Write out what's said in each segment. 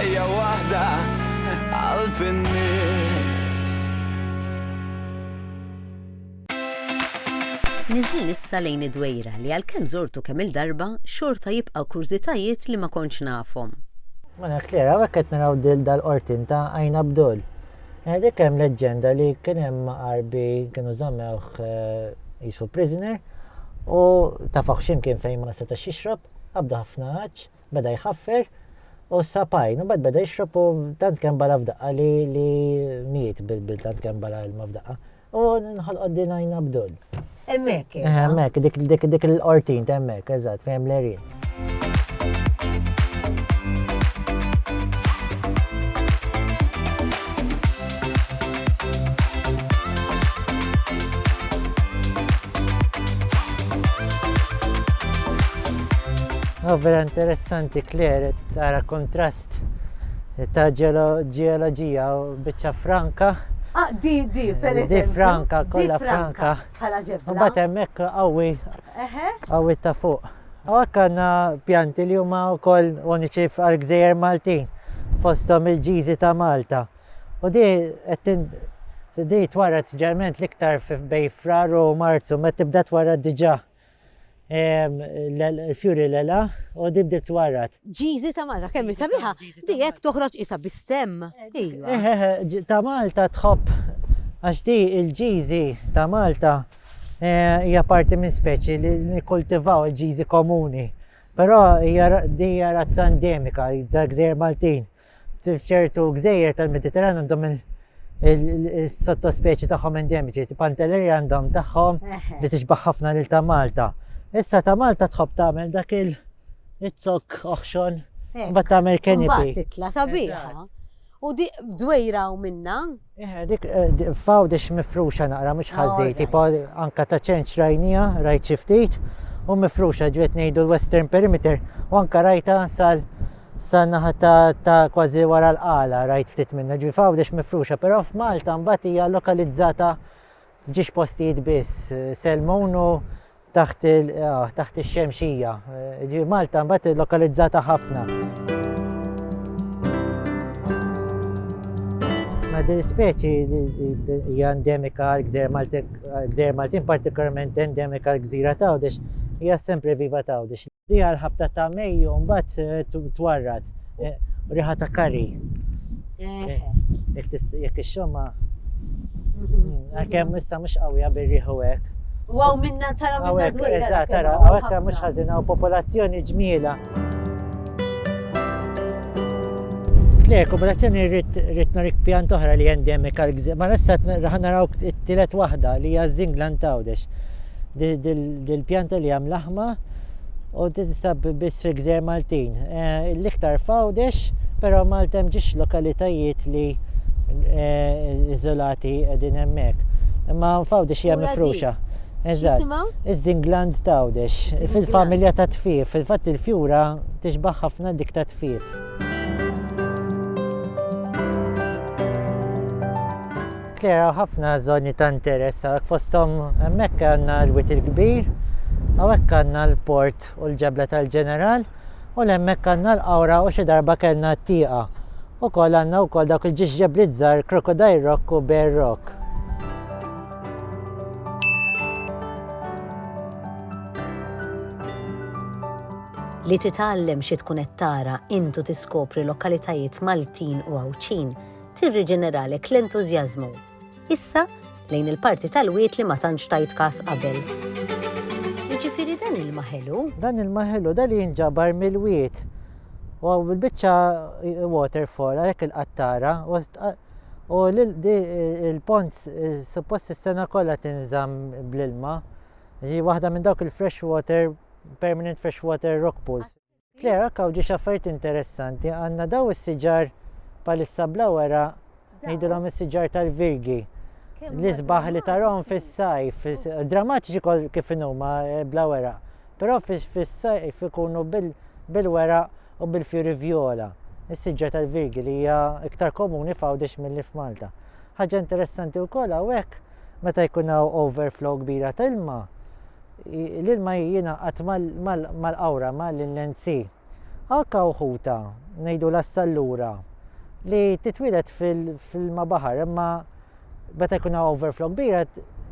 Ħajja waħda qalb in-nies. Niżlin issa lejn id-Dwejra li għalkemm żortu kemm-il darba, xorta jibqgħu kurżitajiet li ma kontx nafhom. Mela Claire, hawnhekk qed naraw dil dal-qortin ta' Għajn Abdul. Dik hemm leġġenda li kien hemm maqarbi kienu żammewh qisu prisoner u tafaħ x'imkien fejn ma setax jixrob, qabdu ħafna għatx. Beda jħaffer u s-sapajn, u bad beda jixrob u tant kemm bala f'daqqa li li miet bil-bil tant kemm bala ilma f'daqqa. U nħolqod din għajn Abdul. Emmek. Eh, eh, emmek, dik dik dik l-qortin temmek, eżatt, fehem l-erin. Oh, vera interessanti Claire, tara kontrast ta' ġeoloġija u biċċa franka. Ah, di, di, per eżempju. Di franka, kolla franka. Bħala ġebla. Bat hemmhekk qawwi qawwi ta' fuq. Hawnhekk għandna pjanti li huma wkoll uniċi għal gżejjer Maltin fosthom il-ġiżi ta' Malta. U di qed di twarret ġerment l-iktar bej frar u marzu, ma tibda twarret diġa l-fjuri l-ela u di bdiet twarret. Ġiżi ta' Malta, kemm hi sabiħa, di hekk toħroġ qisha bi stemm. Ta' Malta tħobb għax di l-ġiżi ta' Malta hija parti minn speċi li nikkultivaw il-ġiżi komuni. Però hija di hija razza endemika, dak żejr Maltin. F'ċertu gżejjer tal-Mediterran għandhom minn il-sottospeċi tagħhom endemiċi, pantelleri għandhom tagħhom li tixbaħ ħafna lil ta' Malta. Issa ta' Malta tħobb tagħmel dak il-zok oħxon bat tagħmel kenipi. Titla sabiħa. U di dwejra u minna Eħe, dik eh, fawdex mifruxa naqra mhux ħażin, tipo anka ta' ċenċ rajnija, rajt xi ftit, u mifruxa ġiet ngħidu l-Western Perimeter, u anka rajta sal sa naħa ta' kważi wara l-qala rajt ftit minna ġi fawdex mifruxa, però f'Malta mbagħad hija lokalizzata F'ġiex postijiet biss Selmonu taħt taħt ix-xemxija. Ġi Malta mbagħad lokalizzata ħafna. Ma din speċi hija endemika għal gżer Maltin, gżer Maltin partikolarment endemika għal gżira ta' għawdex hija sempre viva ta' għawdex. Fiha l-ħabta ta' Mejju mbagħad eh, twarrat eh, riħa ta' kari. Eh, jekk ix-xomma mhm. mm, għalkemm issa mhux qawwija bir-riħu hekk. Waw minna tara minna dwejra. Eżatt, tara, għawek mhux ħażina u popolazzjoni ġmiela. Le, kooperazzjoni rrit narik pjan toħra li endemika l-gżir. Ma nissa raħna raw t-tilet wahda li hija Zinglan Tawdex. dil-pjanta li hemm laħma u tinsab biss fi gżer Maltin. Eh, l-iktar fawdex, però Malta hemm ġiex lokalitajiet li eh, iżolati qegħdin hemmhekk. Imma fawdex hija mifruxa. Eżatt. Iż-żingland tawdex fil-familja ta' tfif, fil-fatt il-fjura tixbaħ ħafna dik ta' tfif. Tklejaw ħafna żoni ta' interess hawnhekk fosthom hemmhekk għandna l-Wied il-Kbir, hawnhekk għandna l-Port u l-Ġebla tal-Ġeneral u 'l hemmhekk għandna l-Qawra u xi darba kellna t-Tieqa. Ukoll għandna wkoll dawk il-ġiex ġebliet żgħar Crocodile Rock u Bear Rock. Li titgħallem xi tkun qed tara int u tiskopri lokalitajiet Maltin u Għawdxin tirriġeneralek l-entużjażmu. Issa, lejn il-parti tal-wied li ma tantx tajt każ qabel. Jiġifieri dan ilma ħelu? Dan ilma ħelu, dan li jinġabar mill-wied. U għaw bil-biċċa waterfall għalhekk il-qattara u l-pont suppost is-sena kollha tinżamm bl-ilma. Ġi waħda minn dawk il-fresh water, permanent fresh water rock pools. Claire, ak hawn ġiex affarijiet interessanti, għandna daw is-siġar bħalissa bla weraq, ngħidulhom is-siġar tal-virgi. L-isbaħ li tarahom fis-sajf, drammatiċi kol kif huma eh, bla weraq, però fis-sajf ikunu bil-weraq u bil-fjuri vjola. Is-siġar tal-virgi li hija iktar komuni f'Għawdex mill-li f'Malta. Ħaġa interessanti wkoll hawnhekk Meta jkun hawn overflow kbira ta' ilma, l-ilma jingħaqad mal-qawra ma' l-NC. Anka uħuta ngħidu l-assallura li titwieled fil-ma baħar imma meta jkun hawn overflow kbira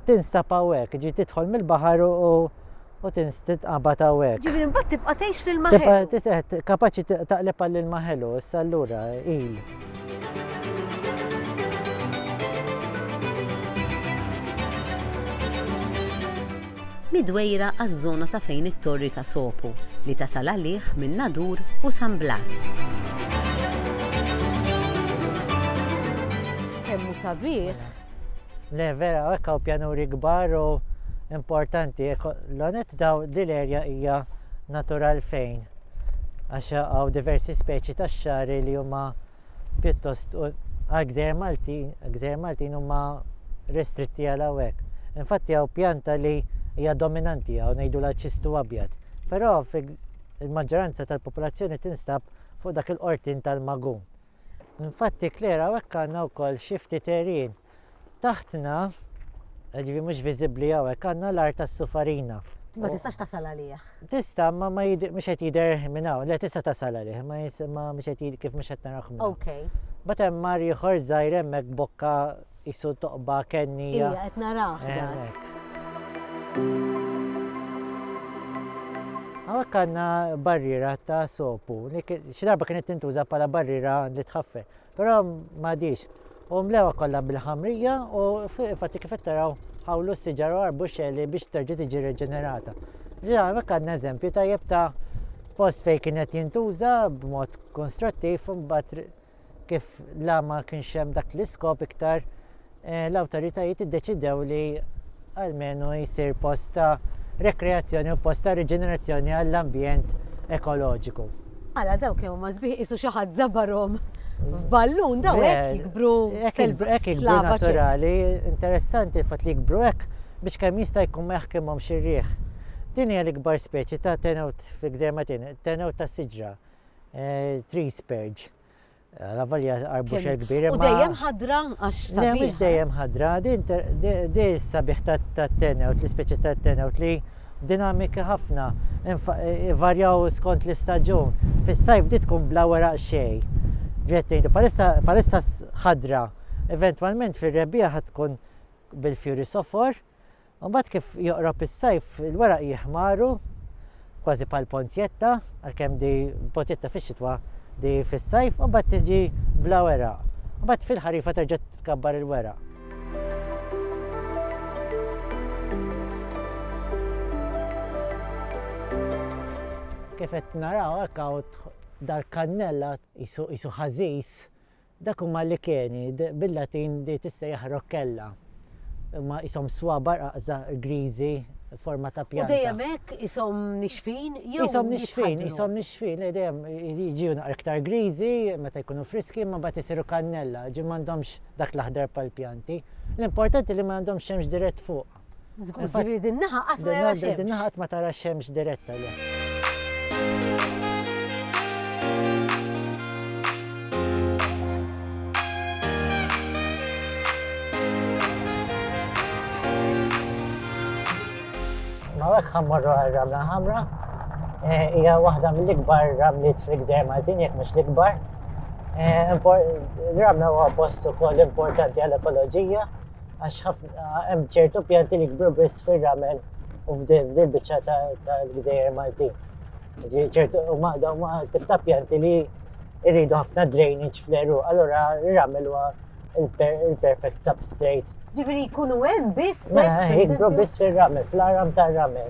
tinstab hawnhekk, ġi tidħol mill-baħar u u tinstitqabad hawnhekk. Ġifieri mbagħad tibqa' tgħix l-ilma ħelu. Kapaċi taqleb għall-ilma ħelu, issa allura il. Midwejra għaż-żona ta' fejn it-Torri ta' Sopo li tasal għalih minn Nadur u San Blas. Kemm hu sabiħ! Le vera hekk hawn pjanuri kbar u importanti. L-onet daw dil-erja hija natural fejn għax hawn diversi speċi ta' xari li huma pjuttost għal gżer Maltin, gżer Maltin huma restretti għal hawnhekk. Infatti hawn pjanta li hija dominanti hawn ngħidu la ċistu abjad. Però il-maġġoranza tal-popolazzjoni tinstab fuq dak il-qortin tal-magun. Infatti, Claire, hawnhekk għandna wkoll xi ftit għerien. Taħtna, jiġifieri mhux viżibbli hawnhekk, għandna l-art tas-sufarina. Ma tistax tasal għalih. Tista', imma mhux qed jidher minn hawn. Le, tista' tasal għalih, imma mhux qed jidher kif mhux qed narawh minn hawn. Imbagħad hemm mar ieħor żgħir hemmhekk b'bokka. Qisu toqba kennija. Ija, qed narah dak. Hawnhekk għandna barriera ta' sopu. Xi darba kienet tintuża bħala barriera li tħaffel, però m'għadix. U mlewa kollha bil-ħamrija u infatti kif qed taraw ħawlu s-siġar u għarbu xeli biex terġa' tiġi reġenerata. Ġi hawnhekk għandna eżempju tajjeb ta' post fejn kienet jintuża b'mod konstruttiv imbagħad kif la ma kienx hemm dak l-iskop iktar, eh, l-awtoritajiet iddeċidew li almenu jsir post ta' rekreazzjoni u post ta' riġenerazzjoni għall-ambjent ekoloġiku. Ara daw kemm huma sbieħ qisu xi ħadd żabarhom f'ballun daw hekk jikbru hekk jikbru naturali, interessanti fatt li jikbru hekk biex kemm jista' jkun ma jaħkimhomx ir-riħ. Din hija l-ikbar speċi ta' tenewt fi gżejjer Maltin, tenewt tas-siġra. Eh, tree spurge. Eh, la valja arbuxa kbira. U dejjem ħadra għax sabiħ. Mux eh? dejjem ħadra, di sabiħ ta' tenewt, l-speċi ta' tenewt li dinamika ħafna, varjaw skont l-istagġun. Fis-sajf di tkun bla wara xej. Ġettejn, palissa ħadra, eventualment fil-rebija ħad tkun bil-fjuri sofor, Imbagħad kif joqrob is-sajf il-weraq jiħmaru kważi bħal ponzjetta, għalkemm di ponzjetta fix-xitwa di fis-sajf, u mbagħad tiġi bla weraq. Mbagħad fil-ħarifa terġa' tkabbar il-weraq. Kif qed naraw hekk dal-kannella jisu ħażiż Dak huma licheni, bil-Latin di tissejjaħ roccella. Huma qishom swabar qaqża griżi forma ta' pjanta. U dejjem hekk qishom nixfin jew. Qishom nixfin, qishom nixfin, eh, dejjem jiġu naqra iktar griżi meta jkunu friski imma mbagħad isiru kannella, ġifieri m'għandhomx dak l-aħdar bħall-pjanti. L-importanti li ma għandhomx xemx dirett fuq. Żgur, ġifieri din naħa qatt ma jara xemx. Din naħa qatt ma tara xemx diretta le. Mawek ħammorru għal-ramla ħamra, Eh, hija waħda mill-ikbar ramliet fil-gżer Maltin, jekk mhux l-ikbar. Eh, Ramla huwa post ukoll importanti għall-ekoloġija. Għax hemm ċertu pjanti li jkbru biss fir-ramel u f'dil biċċa tal-gżejjer Malti. ċertu u maqda u tip ta' pjanti li jridu ħafna drainage fl-eru, allura r-ramel huwa il-perfect substrate. Ġifieri jkunu hemm biss. Mela, jkbru biss fir-ramel, fl-aram tar-ramel.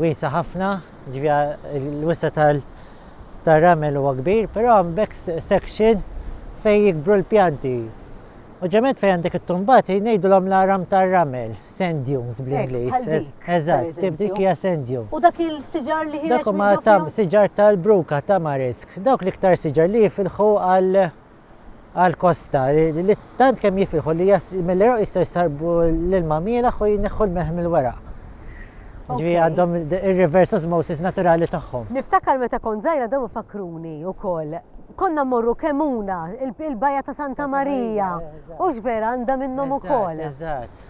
wiesgħa ħafna, jiġifieri l-wisa' tar-ramel huwa kbir, però hemm back section fejn jikbru l-pjanti. U ġemet fejn għandek it-tumbati ngħidulhom l-aram tar-ramel, sand dunes bl-Ingliż. Eżatt, tip dik hija sand dune. U dak il-siġar li ħireġ. Dak huma siġar tal-bruka, tamarisk, dawk l-iktar siġar li jifilħu għal għall-kosta li tant kemm jifilħu li mill-Iraq jistgħu jsarbu l-ilma mielaħ u jneħħu l-melħ mill-weraq. Ġvi għandhom il-reverse osmosis naturali tagħhom. Niftakar meta kont żgħira dawn fakruni wkoll. Konna morru kemuna il-bajja ta' Santa Marija. U vera għandha minnhom ukoll. Eżatt.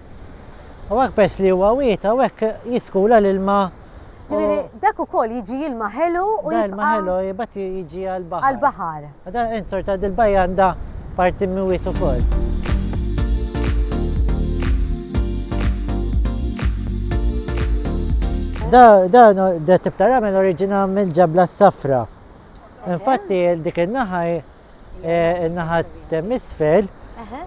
Hawnhekk peress li huwa wied hawnhekk jiskula l-ilma u. Ġifieri dak ukoll jiġi ilma ħelu u jibqa'. Ilma ħelu jibgħat jiġi għall-baħar. Għall-baħar. Dan int sorta dil-bajja għandha parti mwied ukoll. Dan dan dat-tip ta' ramel oriġina mill-ġabla s-safra. Infatti dik in-naħa In-naħa t'isfel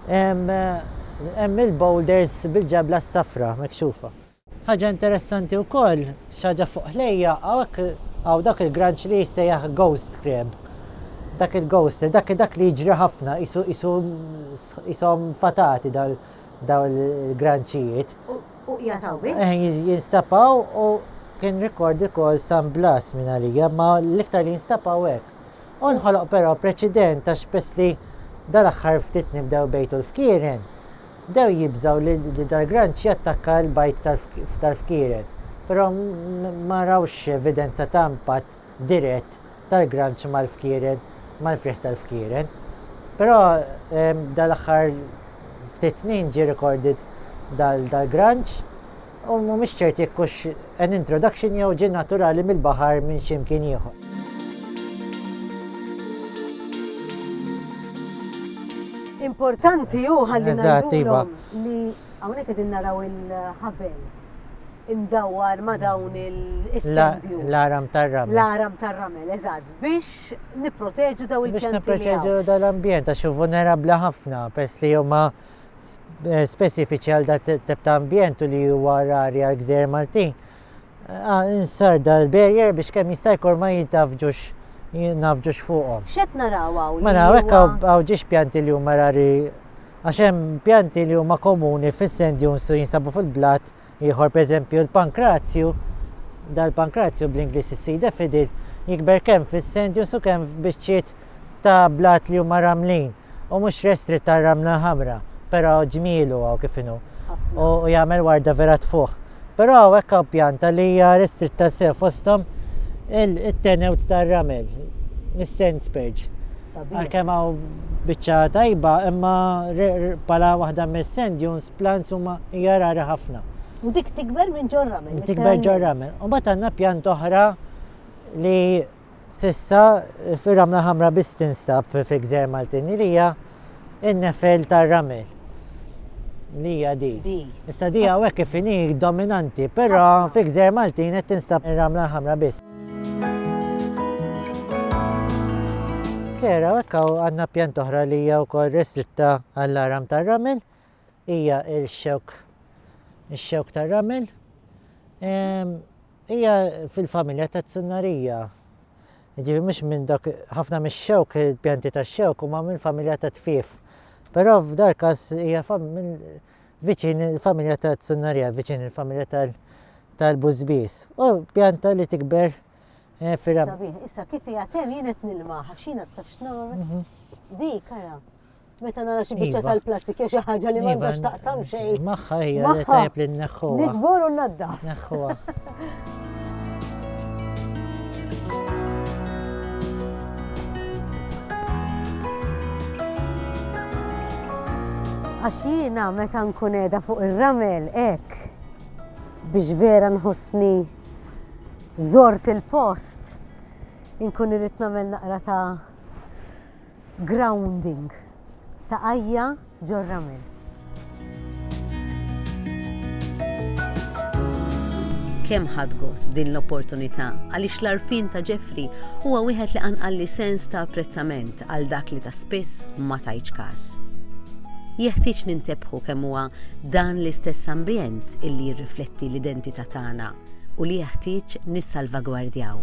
hemm il-boulders bil-ġebla s-safra mekxufa. Ħaġa interessanti wkoll, xi ħaġa fuq ħlejja, hawnhekk hawn dak il-granċ li jissejjaħ ghost crab. Dak il-ghost, dak li jiġri ħafna, qishom fatati dawn il-granċijiet. U qiegħed hawn biss? Eħe, jinstab hawn u kien rekord ukoll San Blas minn għalija, imma l-iktar li jinstab hawn hekk. U nħoloq però preċident għax pess li dal-aħħar ftit nibdew bejtu l-fkieren, bdew jibżgħu li dal-granċ jattakka l-bajd tal-fkieren, però ma rawx evidenza ta' impatt dirett tal-granċ mal-fkieren, mal-frieħ tal-fkieren. Però dal-aħħar ftit snin ġie recorded dal-granċ. U mhumiex ċerti jekk hux an introduction jew ġie naturali mill-baħar minn xi mkien ieħor. Importanti hu ħalli ngħidulhom li hawnhekk qegħdin naraw il-ħabel imdawwar ma' dawn il-sendju. L-aram tar-ramel. L-aram tar-ramel, eżatt, biex niproteġu daw il-pjanti. Biex niproteġu dal-ambjent, għax hu vulnerabbli ħafna, pers li huma ma' speċifiċi għal dat tip ta' ambjent u li huwa rari għal gżejjer Maltin. Ah, insar dal-barrier biex kemm jista' jkun ma jintafġux jintafġux fuqhom. X'qed naraw hawn? Ma naraw hekk hawn ġiex pjanti li huma rari għax hemm pjanti li huma komuni fis-sand dunes u jinsabu fil-blat Ieħor pereżempju l-pankrazju, dal-pankrazju bl-Ingliż is-seed effidil, jikber kemm fis-sendjus u kemm f'biċċiet ta' blat li huma ramlin u mhux restritt għar-ramla ħamra, però ġmielu hawn kif inhu u jagħmel warda vera tfuħ. Però hawnhekk hawn pjanta li hija restritta sew fosthom it-tenewt tar-ramel, is-sand spurge. Għalkemm hawn biċċa tajba imma bħala waħda mis-sand dunes plants huma hija rara ħafna. U dik tikber minn ġorramen. Tikber ġorramen. U mbagħad għandna pjant oħra li sissa fir-ramla ħamra biss tinstab fi gżer Maltini li hija in-nefel tar-ramel. Li hija di. Issa di hawnhekk kif inhi dominanti, però fi gżer Maltin qed tinstab ir-ramla ħamra biss. Kera, għakka għanna pjant oħra li hija wkoll restritta għall-aram tar-ramel. hija l-xewk ix-xewk tar-ramel. Hija fil-familja ta' Tsunnaria. Jiġifieri mhux minn dak ħafna mix-xewk, il-pjanti tax-xewk huma mill-familja ta' tfief. Però f'dal każ hija viċin il-familja ta' Tsunnaria, viċin il-familja tal- tal-bużbiż. U pjanta li tikber eh, fil Issa kif jgħatem jien qed nilmaħ, xina tafx nagħmel. Mhm. Dik ara. Meta nara xi biċċa iva. tal-plastik jew xi ħaġa li m'għandhax iva, taqsam xejn. Magħha hija li tajb li nneħħuha. Niġbor u nadda. Neħħuha. Għax jiena meta nkun qiegħda fuq ir-ramel hekk biex vera nħossni zort il-post inkun irrid nagħmel naqra ta' Grounding, taqajja ġor-ramel. Kemm ħadt gost b'din l-opportunità għaliex l-għarfien ta' Jeffrey huwa wieħed li qanqalli sens ta' apprezzament għal dak li ta' spiss ma tajtx każ. Jeħtieġ nintebħu kemm huwa dan l-istess ambjent illi jirrifletti l-identità tagħna u li jeħtieġ nissalvagwardjaw.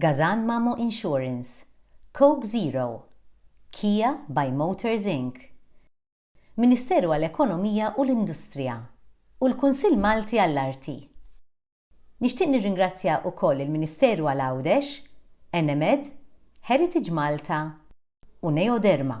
Gazan Mamo Insurance, Coke Zero, Kia by Motors Inc. Ministeru għall-Ekonomija u l-Industrija u l-Kunsill Malti għall-Arti. Nixtieq nirringrazzja ukoll il-Ministeru għal Għawdex, Enemed, Heritage Malta u Neoderma.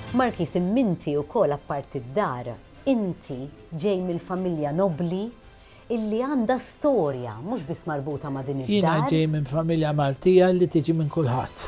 Markiż imminti wkoll apparti d-dar, inti ġej mill-familja nobbli illi għandha storja mhux biss marbuta ma' din id-dar. Jiena ġej minn familja Maltija li tiġi minn kulħadd.